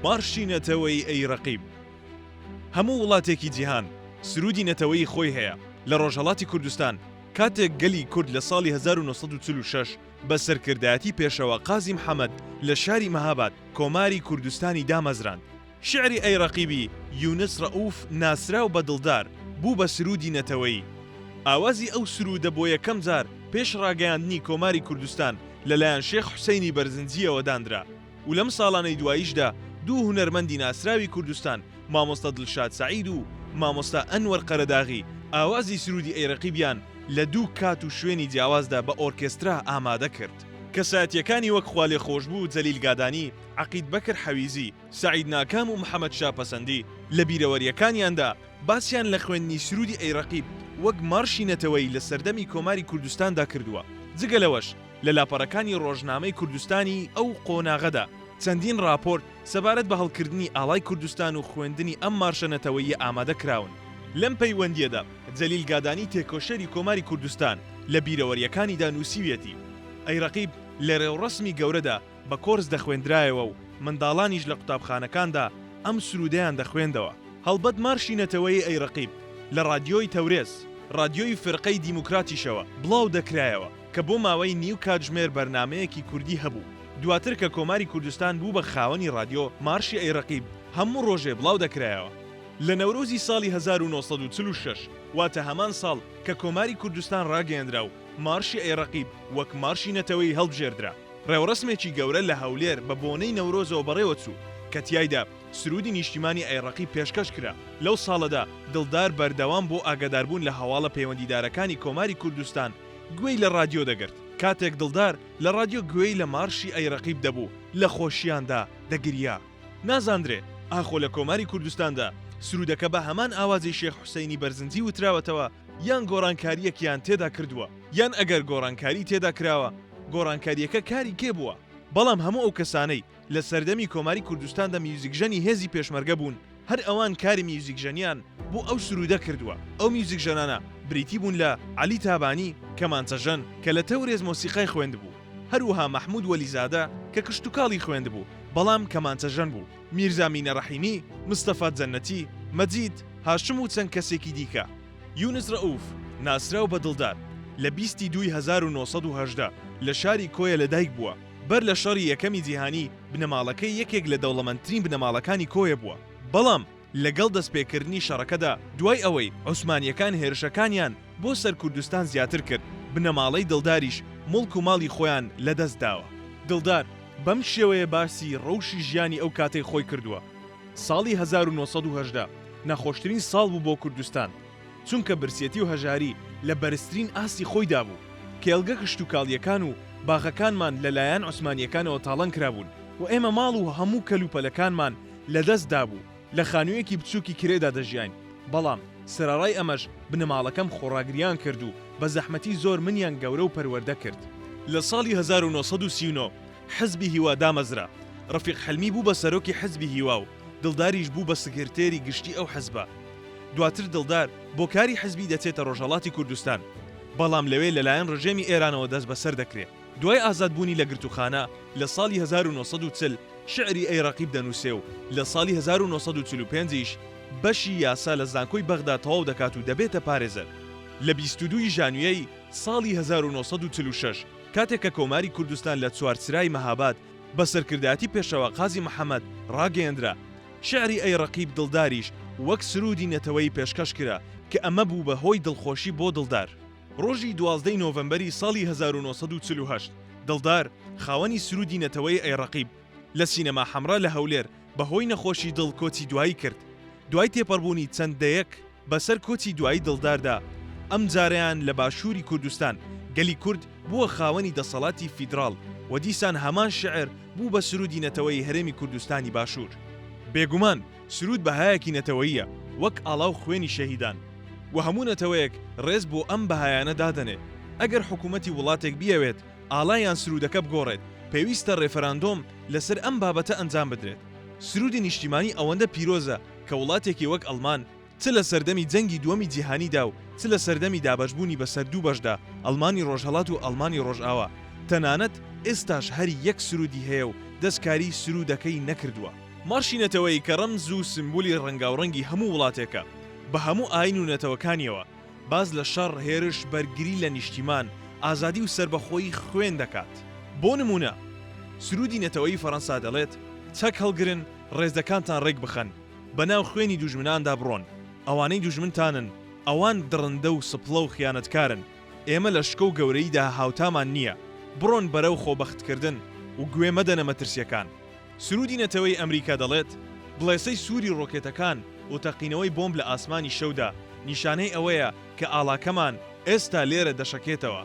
مارشی نەتەوەیی ئەی ڕەقیب. هەموو وڵاتێکی جیهان سروودی نەتەوەیی خۆی هەیە، لە ڕۆژهەڵاتی کوردستان کاتێک گەلی کورد لە ساڵی هەزار و نۆ سەد و چل و شەش بە سەرکردایەتی پێشەوا قازی محەمەد لە شاری مەهاباد کۆماری کوردستانی دامەزراند، شیعری ئەی ڕەقیبی یونس ڕەئوف ناسراو بە دڵدار بوو بە سروودی نەتەوەیی. ئاوازی ئەو سروودە بۆ یەکەم جار پێش ڕاگەیاندنی کۆماری کوردستان، لەلایەن شێخ حوسەینی بەرزنجییەوە داندرا و لەم ساڵانەی دواییشدا دوو هونەرمەندی ناسراوی کوردستان مامۆستا دڵشاد سەعید و مامۆستا ئەنوەر قەرەداغی ئاوازی سروودی ئەی ڕەقیبیان لە دوو کات و شوێنی جیاوازدا بە ئۆرکێسترا ئامادە کرد. کەسایەتییەکانی وەک خوالێخۆشبوو جەلیل گادانی، عەقید بەکر حەویزی، سەعید ناکام و محەمەد شا پەسەندی لە بیرەوەرییەکانیاندا باسیان لە خوێندنی سروودی ئەی ڕەقیب وەک مارشی نەتەوەیی لە سەردەمی کۆماری کوردستاندا کردووە، جگە لەوەش لە لاپەڕەکانی ڕۆژنامەی کوردستانی ئەو قۆناغەدا چەندین ڕاپۆرت سەبارەت بە هەڵکردنی ئاڵای کوردستان و خوێندنی ئەم مارشە نەتەوەییە ئامادە کراون. لەم پەیوەندییەدا جەلیل گادانی تێکۆشەری کۆماری کوردستان لە بیرەوەرییەکانیدا نووسیویەتی، ئەی ڕەقیب لە ڕێوڕەسمی گەورەدا بە کۆرس دەخوێندرایەوە و منداڵانیش لە قوتابخانەکاندا ئەم سروودەیان دەخوێندەوە. هەڵبەت مارشی نەتەوەیی ئەی ڕەقیب لە ڕادیۆی تەورێز، ڕادیۆی فیرقەی دیموکراتیشەوە بڵاو دەکرایەوە، کە بۆ ماوەی نیو کاتژمێر بەرنامەیەکی کوردی هەبوو. دواتر کە کۆماری کوردستان بوو بە خاوەنی ڕادیۆ، مارشی ئەی ڕەقیب هەموو ڕۆژێ بڵاو دەکرایەوە. لە نەورۆزی ساڵی هەزار و نۆ سەد و چل و شەش، واتە هەمان ساڵ کە کۆماری کوردستان ڕاگەیەندرا و مارشی ئەی ڕەقیب وەک مارشی نەتەوەیی هەڵبژێردرا، ڕێوڕەسمێکی گەورە لە هەولێر بە بۆنەی نەورۆزەوە بەڕێوەچوو، کە تیایدا سروودی نیشتیمانی ئەی ڕەقیب پێشکەش کرا، لەو ساڵەدا دڵدار بەردەوام بۆ ئاگاداربوون لە هەواڵە پەیوەندیدارەکانی کۆماری کوردستان گوێی لە ڕادیۆ دەگرت، کاتێک دڵدار لە ڕادیۆ گوێی لە مارشی ئەی ڕەقیب دەبوو لە خۆشییاندا دەگریا. نازاندرێ ئاخۆ لە کۆماری کوردستاندا سروودەکە بە هەمان ئاوازی شێخ حوسەینی بەرزنجی وتراوەتەوە یان گۆڕانکارییەکیان تێدا کردووە؟ یان ئەگەر گۆڕانکاری تێدا کراوە گۆڕانکارییەکە کاری کێ بووە؟ بەڵام هەموو ئەو کەسانەی لە سەردەمی کۆماری کوردستاندا میوزیکژەنی هێزی پێشمەرگە بوون هەر ئەوان کاری میوزیکژەنیان بۆ ئەو سروودە کردووە، ئەو میوزیکژەنانە بریتی بوون لە، عەلی تابانی، کەمانچەژەن کە لە تەورێز مۆسیقای خوێندبوو، هەروەها مەحموود وەلیزادە کە کشتوکاڵی خوێندبوو بەڵام کەمانچەژەن بوو، میرزا مینە ڕەحیمی، مستەفا جەننەتی، مەجید، هاشم و چەند کەسێکی دیکە. یونس رەئوف، ناسراو بە دڵدار، لە بیست ی دووی هەزار و نۆ سەد و هەژدە لە شاری کۆیە لەدایک بووە، بەر لە شەڕی یەکەمی جیهانی بنەماڵەکەی یەکێک لە دەوڵەمەندترین بنەماڵەکانی کۆیە بووە، بەڵام لەگەڵ دەستپێکردنی شەڕەکەدا دوای ئەوەی عوسمانییەکان هێرشەکانیان بۆ سەر کوردستان زیاتر کرد، بنەماڵەی دڵداریش موڵک و ماڵی خۆیان لەدەست داوە. دڵدار بەم شێوەیە باسی رەوشی ژیانی ئەو کاتەی خۆی کردووە. ساڵی هەزار و نۆ سەد و هەژدە ناخۆشترین ساڵ بوو بۆ کوردستان، چونکە برسیەتی و هەژاری لە بەرزترین ئاستی خۆیدا بوو، کێڵگە کشتوکاڵییەکان و باغەکانمان لەلایەن عوسمانییەکانەوە تاڵان کرابوون و ئێمە ماڵ و هەموو کەلوپەلەکانمان لەدەست دابوو، لە خانوویەکی بچووکی کرێدا دەژیاین، بەڵام سەرەڕای ئەمەش بنەماڵەکەم خۆڕاگرییان کرد و بە زەحمەتی زۆر منیان گەورە و پەروەردە کرد. لە ساڵی هەزار و نۆ سەد و سی و نۆ حزبی هیوا دامەزرا، ڕەفیق حلمی بوو بە سەرۆکی حزبی هیوا و دڵداریش بوو بە سکرتێری گشتی ئەو حزبە. دواتر دڵدار بۆ کاری حزبی دەچێتە ڕۆژهەڵاتی کوردستان، بەڵام لەوێ لەلایەن ڕژێمی ئێرانەوە دەستبەسەر دەکرێ. دوای ئازادبوونی لە گرتووخانە لە ساڵی هەزار و نۆ سەد و چل شیعری ئەی ڕەقیب دەنووسێ و لە ساڵی هەزار و نۆ سەد و چل و پێنج یش بەشی یاسا لە زانکۆی بەغدا تەواو دەکات و دەبێتە پارێزەر. لە بیست و دوو ی ژانویەی ساڵی هەزار و نۆ سەد و چل و شەش کاتێک کە کۆماری کوردستان لە چوارچرای مەهاباد بە سەرکردایەتی پێشەوا قازی محەمەد ڕاگەیەندرا، شیعری ئەی ڕەقیب دڵداریش وەک سروودی نەتەوەیی پێشکەش کرا کە ئەمە بوو بە هۆی دڵخۆشی بۆ دڵدار. ڕۆژی دوازدە ی نۆڤەمبەری ساڵی هەزار و نۆ سەد و چل و هەشت دڵدار خاوەنی سروودی نەتەوەیی ئەی ڕەقیب لە سینەما حەمرا لە هەولێر بەهۆی نەخۆشی دڵ کۆچی دوایی کرد، دوای تێپەڕبوونی چەند دەیەک بەسەر کۆچی دوایی دڵداردا، ئەمجارەیان لە باشووری کوردستان، گەلی کورد بووە خاوەنی دەسەڵاتی فیدراڵ و دیسان هەمان شیعر بوو بە سروودی نەتەوەیی هەرێمی کوردستانی باشوور. بێگومان سروود بەهایەکی نەتەوەییە، وەک ئاڵا و خوێنی شەهیدان و هەموو نەتەوەیەک ڕێز بۆ ئەم بەهایانە دادەنێ. ئەگەر حکوومەتی وڵاتێک بیەوێت ئاڵا یان سروودەکە بگۆڕێت، پێویستە ڕێفەراندۆم لەسەر ئەم بابەتە ئەنجام بدرێت. سروودی نیشتیمانی ئەوەندە پیرۆزە کە وڵاتێکی وەک ئەڵمان چ لە سەردەمی جەنگی دووەمی جیهانیدا و چ لە سەردەمی دابەشبوونی بەسەر دوو بەشدا، ئەڵمانی ڕۆژهەڵات و ئەڵمانی ڕۆژاوا، تەنانەت ئێستاش هەر یەک سروودی هەیە و دەستکاریی سروودەکەی نەکردووە. مارشی نەتەوەیی کە ڕەمز و سیمبولی ڕەنگاوڕەنگی هەموو وڵاتێکە، بە هەموو ئایین و نەتەوەکانییەوە، باس لە شەڕ، هێرش، بەرگری لە نیشتیمان، ئازادی و سەربەخۆیی خوێن دەکات. بۆ نموونە، سروودی نەتەوەیی فەرەنسا دەڵێت، چەک هەڵگرن، ڕێزەکانتان ڕێک بخەن، بەناو خوێنی دوژمناندا بڕۆن، ئەوانەی دوژمنتانن، ئەوان دڕندە و سپڵە و خیانەتکارن، ئێمە لە شکۆ و گەورەییدا هاوتامان نییە، بڕۆن بەرەو خۆبەختکردن و گوێ مەدەنە مەترسییەکان. سروودی نەتەوەیی ئەمریکا دەڵێت، بڵێسەی سووری ڕۆکێتەکان و تەقینەوەی بۆمب لە ئاسمانی شەودا، نیشانەی ئەوەیە کە ئاڵاکەمان ئێستا لێرە دەشەکێتەوە.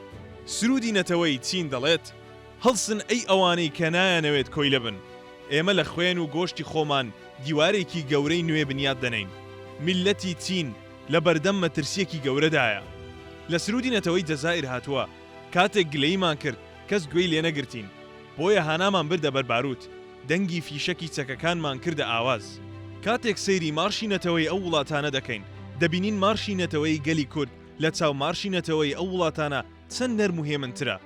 سروودی نەتەوەیی چین دەڵێت، هەڵسن ئەی ئەوانەی کە نایانەوێت کۆیلە بن، ئێمە لە خوێن و گۆشتی خۆمان دیوارێکی گەورەی نوێ بنیات دەنێین. میللەتی چین لە بەردەم مەترسییەکی گەورەدایە. لە سروودی نەتەوەی جەزائیر هاتووە، کاتێک گلەییمان کرد، کەس گوێی لێ نەگرتین، بۆیە هانامان بردە بەر بارووت، دەنگی فیشەکی چەکەکانمان کردە ئاواز. کاتێک سەیری مارشی نەتەوەی ئەو وڵاتانە دەکەین، دەبینین مارشی نەتەوەی گەلی کورد لە چاو مارشی نەتەوەی ئەو وڵاتانە چەند نەرم و هێمنترە.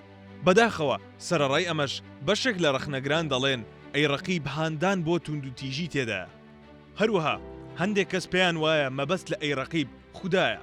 بەداخەوە سەرەڕای ئەمەش بەشێک لە ڕەخنەگران دەڵێن، ئەی ڕەقیب هاندان بۆ توندوتیژی تێدایە. هەروەها هەندێک کەس پێیان وایە مەبەست لە ئەی ڕەقیب خودایە.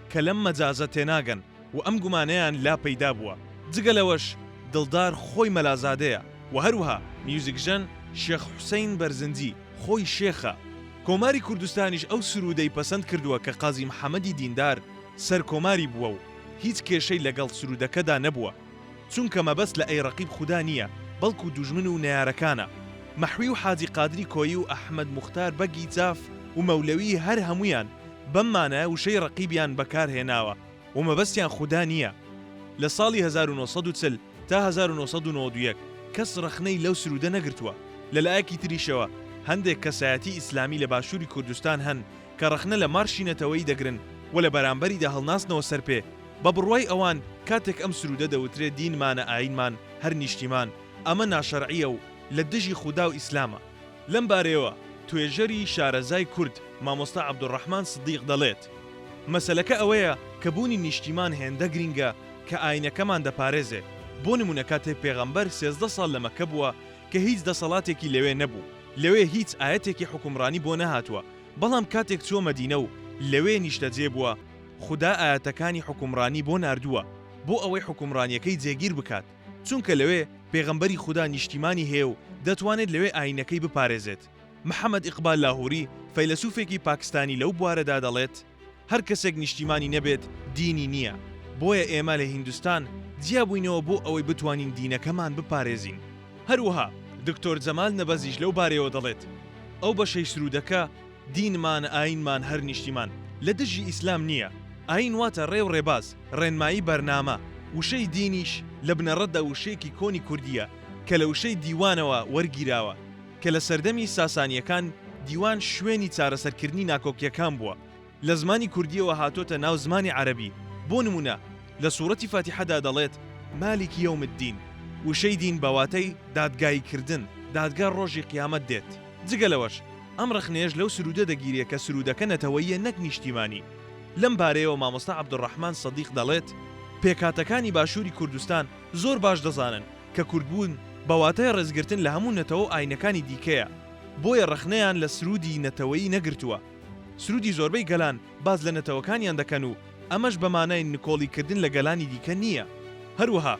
کە لەم مەجازە تێناگەن و ئەم گومانەیان لا پەیدا بووە. جگە لەوەش دڵدار خۆی مەلازادەیە و هەروەها میوزیکژەن شێخ حوسەین بەرزنجی خۆی شێخە. کۆماری کوردستانیش ئەو سروودەی پەسەند کردووە کە قازی محەمەدی دیندار سەرکۆماری بووە و هیچ کێشەی لەگەڵ سروودەکەدا نەبووە. چونکە مەبەست لە ئەی ڕەقیب خودا نییە بەڵکو دوژمن و نەیارەکانە مەحوی و حاجی قادری کۆیی و ئەحمەد موختار بەگی جاف و مەولەوی هەر هەموویان بەم مانایە وشەی ڕەقیبیان بەکار هێناوە و مەبەستیان خودا نییە لە ساڵی هەزار و نۆ سەد و چل تا هەزار و نۆ سەد و نەوەد و یەک کەس ڕەخنەی لەو سرودە نەگرتووە لە لایەکی تریشەوە هەندێک کەسایەتی ئیسلامی لە باشوری کوردستان هەن کە ڕەخنە لە مارشی نەتەوەیی دەگرن و لە بەرامبەریدا هەڵناستنەوە سەر پێ، بە بڕوای ئەوان کاتێک ئەم سروودە دەوترێ دینمانە ئایینمان هەر نیشتیمان، ئەمە ناشەرعییە و لە دژی خودا و ئیسلامە. لەم بارەیەوە توێژەری شارەزای کورد مامۆستا عەبدولڕەحمان سدیق دەڵێت، مەسەلەکە ئەوەیە کە بوونی نیشتیمان هێندە گرینگە کە ئایینەکەمان دەپارێزێ، بۆ نموونە کاتێ پێغەمبەر سێزدە ساڵ لە مەککە بووە کە هیچ دەسەڵاتێکی لەوێ نەبوو، لەوێ هیچ ئایەتێکی حوکمڕانی بۆ نەهاتووە، بەڵام کاتێک چووە مەدینە و لەوێ نیشتەجێ بووە، خودا ئایەتەکانی حوکمڕانی بۆ ناردووە، بۆ ئەوەی حوکمڕانییەکەی جێگیر بکات، چونکە لەوێ پێغەمبەری خودا نیشتیمانی هەیە و دەتوانێت لەوێ ئایینەکەی بپارێزێت. محەمەد ئیقبال لاهوری، فەیلەسوفێکی پاکستانی لەو بوارەدا دەڵێت، هەر کەسێک نیشتیمانی نەبێت دینی نییە، بۆیە ئێمە لە هیندستان جیابووینەوە بۆ ئەوەی بتوانین دینەکەمان بپارێزین. هەروەها دکتۆر جەمال نەبەزیش لەو بارەیەوە دەڵێت، ئەو بەشەی سروودەکە، دینمان، ئایینمان، هەر نیشتیمان، لە دژی ئیسلام نییە، ئایین واتە ڕێ و ڕێباز، ڕێنمایی بەرنامە، وشەی دینیش لە بنەڕەتدا وشەیەکی کۆنی کوردییە کە لە وشەی دیوانەوە وەرگیراوە، کە لە سەردەمی ساسانییەکان دیوان شوێنی چارەسەرکردنی ناکۆکییەکان بووە، لە زمانی کوردییەوە هاتۆتە ناو زمانی عەرەبی، بۆ نموونە لە سوڕەتی فاتیحەدا دەڵێت، مالک یوم الدین، وشەی دین بە واتای دادگاییکردن، دادگا ڕۆژی قیامەت دێت. جگە لەوەش ئەم ڕەخنەیەش لەو سروودە دەگیرێ کە سروودەکە نەتەوەییە نەک نیشتیمانی. لەم بارەیەوە مامۆستا عەبدولڕەحمان سەدیق دەڵێت، پێکهاتەکانی باشووری کوردستان زۆر باش دەزانن کە کوردبوون بە واتای ڕێزگرتن لە هەموو نەتەوە و ئاینەکانی دیکەیە، بۆیە ڕەخنەیان لە سروودی نەتەوەیی نەگرتووە. سروودی زۆربەی گەلان باس لە نەتەوەکانیان دەکەن و ئەمەش بە مانای نکۆڵیکردن لە گەلانی دیکە نییە. هەروەها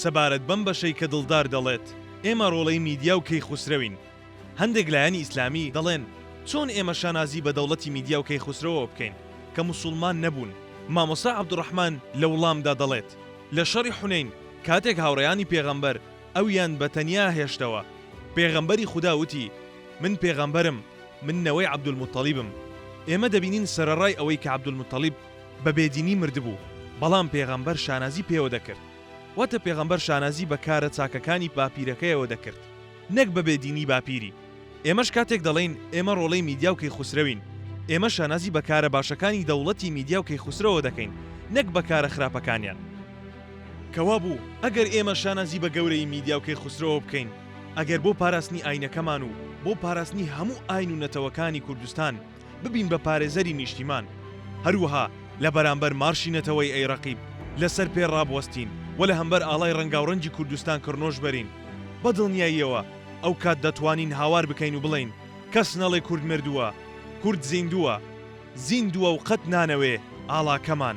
سەبارەت بەم بەشەی کە دڵدار دەڵێت ئێمە ڕۆڵەی میدیا و کەیخوسرەوین، هەندێک لایەنی ئیسلامی دەڵێن چۆن ئێمە شانازی بە دەوڵەتی میدیا و کەیخوسرەوەوە بکەین کە موسوڵمان نەبوون؟ مامۆستا عەبدوڕەحمان لە وڵامدا دەڵێت، لە شەڕی حونەین کاتێک هاوڕێیانی پێغەمبەر ئەویان بە تەنیا هێشتەوە، پێغەمبەری خودا وتی، من پێغەمبەرم، من نەوەی عەبدولموتەڵیبم. ئێمە دەبینین سەرەڕای ئەوەی کە عەبدولموتەڵیب بە بێدینی مردبوو، بەڵام پێغەمبەر شانازی پێوە دەکرد. واتە پێغەمبەر شانازی بە کارە چاکەکانی باپیرەکەیەوە دەکرد. نەک بە بێ دینی باپیری. ئێمەش کاتێک دەڵێین ئێمە ڕۆڵەی میدیا و کەیخوسرەوین، ئێمە شانازی بە کارە باشەکانی دەوڵەتی میدیا و کەیخوسرەوە دەکەین نەک بە کارە خراپەکانیان. کە وابوو ئەگەر ئێمە شانازی بە گەورەیی میدیا و کەیخوسرەوە بکەین، ئەگەر بۆ پاراستنی ئاینەکەمان و بۆ پاراستنی هەموو ئاین و نەتەوەکانی کوردستان، ببین بە پارێزەری نیشتیمان، هەروەها لە بەرامبەر مارشی نەتەوەی ئەی ڕەقیب لە سەر پێ ڕابوەستین و لە هەمبەر ئاڵای ڕەنگاوڕەنگی کوردستان کڕنۆش بەرین. بە دڵنیاییەوە ئەو کات دەتوانین هاوار بکەین و بڵێین، کەس نەڵێ کورد مردووە، کورد زیندووە. زیندووە و قەت نانەوێ ئاڵاکەمان.